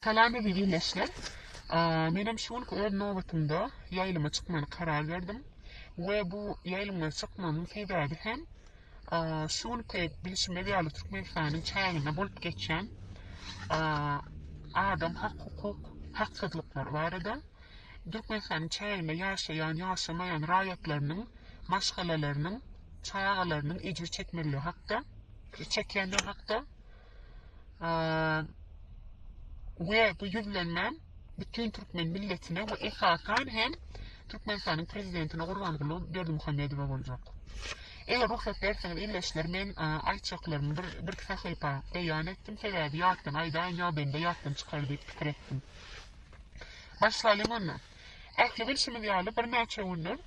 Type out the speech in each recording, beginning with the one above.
Salam eziz ildeşler. Menem şu günki öz nobatymda ýaýlyma çykmany karar berdim we bu ýaýlyma çykmamyň sebäbi hem şu günki bilşimiz ýaly Türkmenistanyň çäginde bolup geçen adam hak hukuk haksyzlyklary barada Türkmenistanyň çäginde ýaşaýan, ýaşamaýan raýatlarynyň maşgalalarynyň, çagalarynyň ejir çekmegleri hakda, çekýänler hakda we bu ýüzlenmäm bütin türkmen milletine we esasan hem Türkmenistanyň prezidentine Gurbanguly Berdimuhamedowa boljak. Eger rugsat berseňiz ildeşler men aýtjaklarymy bir bir sahypa beýan etdim sebäbi ýatdan aýdaýyn ýa bende ýatdan çykar diýip pikir etdim. Başlaýyň onda. Ähli bilşimiz ýaly bir näçe günler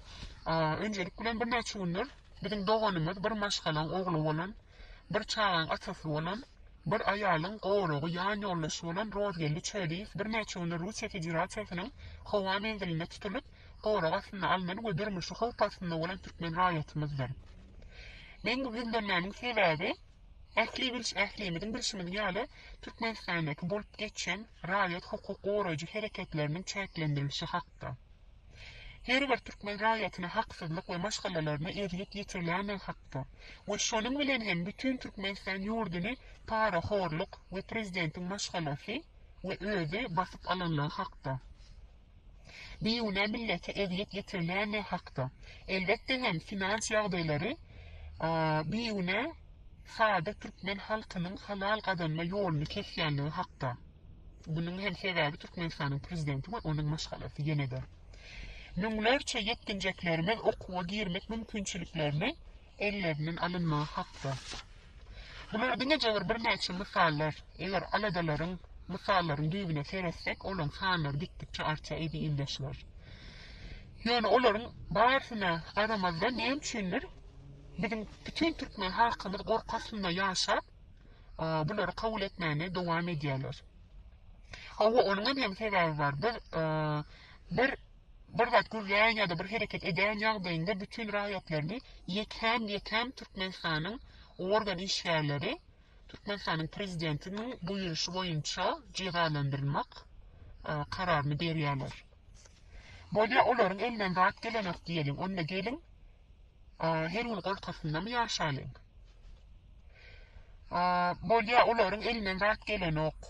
önjelik bilen bir näçe günler biziň doganymyz bir maşgalaň ogly bolan Bir çagaň atasy bolan, bir aýalyň goragy ýanýoldaşy bolan Rozgeldi Çöliýew birnäçe gündür Russiýa Federasiýasynyň howa menzilinde tutulyp, gorag astyna alnan we durmuşy howp astynda bolan türkmen raýatymyzdyr. Men bu gizlenmäniň sebäbi, ähli bilş ählimiziň bilşimiz ýaly, Türkmenistandaky bolup geçen raýat hukuk goraýjy hereketleriniň çäklendirilişi hakda. her bir türkmen raýatyna haksyzlyk we maşgalalaryna ezýet ýetirilendigi hakda we şonuň bilen hem bütin Türkmenistan ýurduny parahorluk we prezidentiň maşgalasy we özi basyp alanlygy hakda, bigünä millete ezýet ýetirilendigi hakda, elbetde hem finans ýagdaýlary bigünä sada türkmen halkynyň halal gazanma ýoluny kesýänligi hakda. Munuň hem sebäbi Türkmenistanyň prezidenti we onuň maşgalasy ýene-de. Müňlerçe ýetginjeklerimiz okuwa girmek mümkinçiliklerini ellerinden alynmagy hakda. Bular diňe jebir birnäçe mysallar. Eger aladalaryň, mysallaryň düýbüne seretsek, olaň sanlary gitdikçe artýar eziz ildeşler. Ýöne olaryň barysyna garamazdan näme üçindir biziň bütin türkmen halkymyz gorky astynda ýaşap, bulary kabul etmäni dowam edýärler. Hawa, onuňam hem sebäbi bar. Biz bir bir zat gürleýän ýa-da bir hereket edýän ýagdaýynda bütin raýatlaryny ýekän-ýekän Türkmenistanyň organ işgärleri Türkmenistanyň prezidentiniň buýruşy boýunça jezalandyrmak kararyny berýärler. Bolýa olaryň elinden zat gelenok diýeliň, onda geliň, her gün goltgysynda-my ýaşalyň? Bolýa olaryň elinden zat gelenok,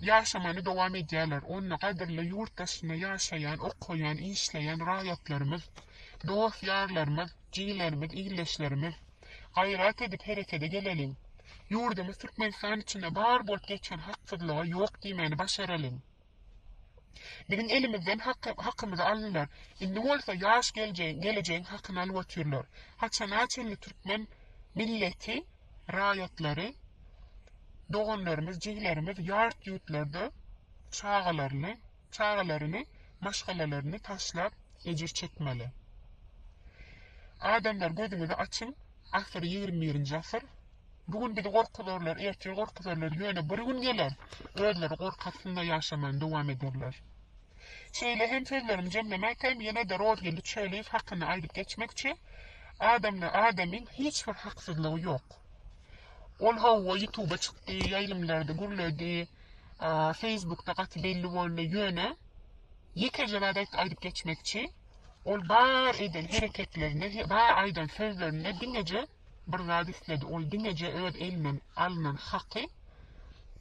ýaşamany dowam edýärler, onda gadyrly ýurt daşynda ýaşaýan, okaýan, işleýän raýatlarymyz, dost-ýarlarymyz, jigilerimiz, ildeşlerimiz, Gaýrat edip herekede geleliň. Ýurdumyz Türkmenistan içinde bar bolup geçen haksyzlyga ýok diýmäni başaralyň. Biziň elimizden hakymyzy aldylar. Indi bolsa ýaş gelejegiň hakyny alyp otyrlar. Haçana çenli türkmen milleti, raýatlary, doganlarymyz, jigilerimiz ýart ýurtlarda çagalaryny, Çagalaryny, maşgalalaryny taşlap ejir çekmeli. Adamlar gözüňizi açyň, asyr ýigrimi birinji asyr. Bu gün bizi gorkuzarlar, ertir gorkuzarlar, ýöne bir gün geler, özleri gorky astynda ýaşamany dowam ederler. Şeýle hem sözlerimi jemlemäkäm ýene-de Rozgeldi Çöliýew hakyna aýdyp geçmekçi, adamda adamyň hiç bir haksyzlygy ýok. Ol hawa ýutuba çykdy, ýaýlymlarda gürledi, Facebookda gaty belli boldy ýöne ýekeje zat aýt- aýdyp geçmekçi. Ol bar eden hereketlerinde, he- bar aýdan sözlerinde diňeje bir zat isledi. Ol diňeje öz elinden alnan haky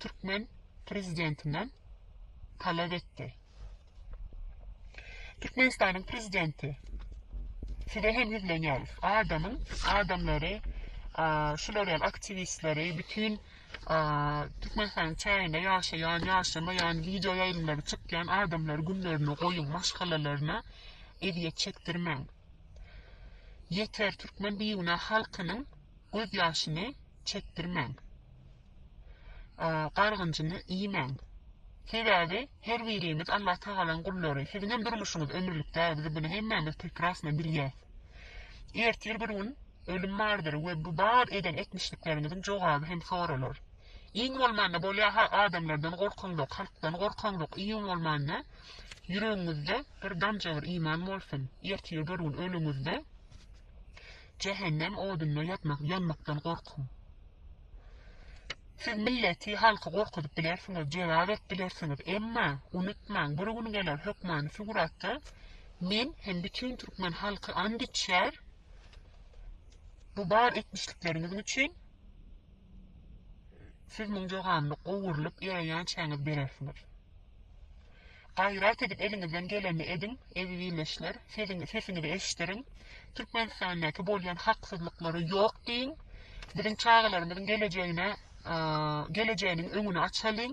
türkmen prezidentinden talap etdi. Türkmenistanyň Prezidenti, Size hem ýüzlenýäris. Adamyň, adamlary, şular ýaly aktiwistleri, bütin Türkmenistanyň çäginde ýaşaýan, ýaşamaýan, wideo ýaýlymlary çykýan adamlary günlerine goýuň, maşgalalaryna ezýet çekdirmäň. Ýeter, türkmen bigünä halkynyň gözýaşyny çekdirmäň. gargynjyny iýmäň. Sebäbi her birimiz Allah Tagalaň gullary. Siziňem durmuşyňyz ömürlik däl, biz bunu hemmämiz prekrasno bilýäs. Ertir bir gün ölüm bardyr we bu bar eden etmişlikleriňiziň jogaby hem soralar. Iň bolmanda bolýa-ha adamlardan gorkaňzok, halkdan gorkaňzok, iň bolmanda ýüregiňizde bir damja bir iman bolsun. Ertir bir gün ölüňizde jähennem odunda ýatmak, ýanmakdan gorkuň. Siz milleti, halky gorkuzyp bilersiňiz, jelal edip bilersiňiz, emma, unutmaň, bir gün geler hökmany Suguratda men hem bütin türkmen halky and içer, bu bar etmişlikleriňiz üçin siz muň joganyny gowurlyp ýöreýänçäňiz berersiňiz. Gaýrat edip eliňizden gelenini ediň, ezizileşler, sesiň sesiňizi eşdiriň, Türkmenistandaky bolýan haksyzlyklary ýok diýiň, biziň çagalarymyzyň gelejegine gelejeginiň öňüni açalyň,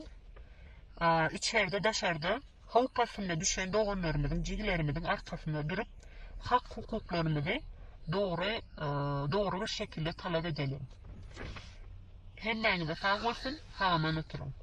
içerde daşarda howp astynda düşen doganlarymyzyň jigilerimiziň arkasynda durup hak hukuklarymyzy dogry dogry bir şekilde talap edeliň. Hemmäňize sag bolsun, sagaman oturyň.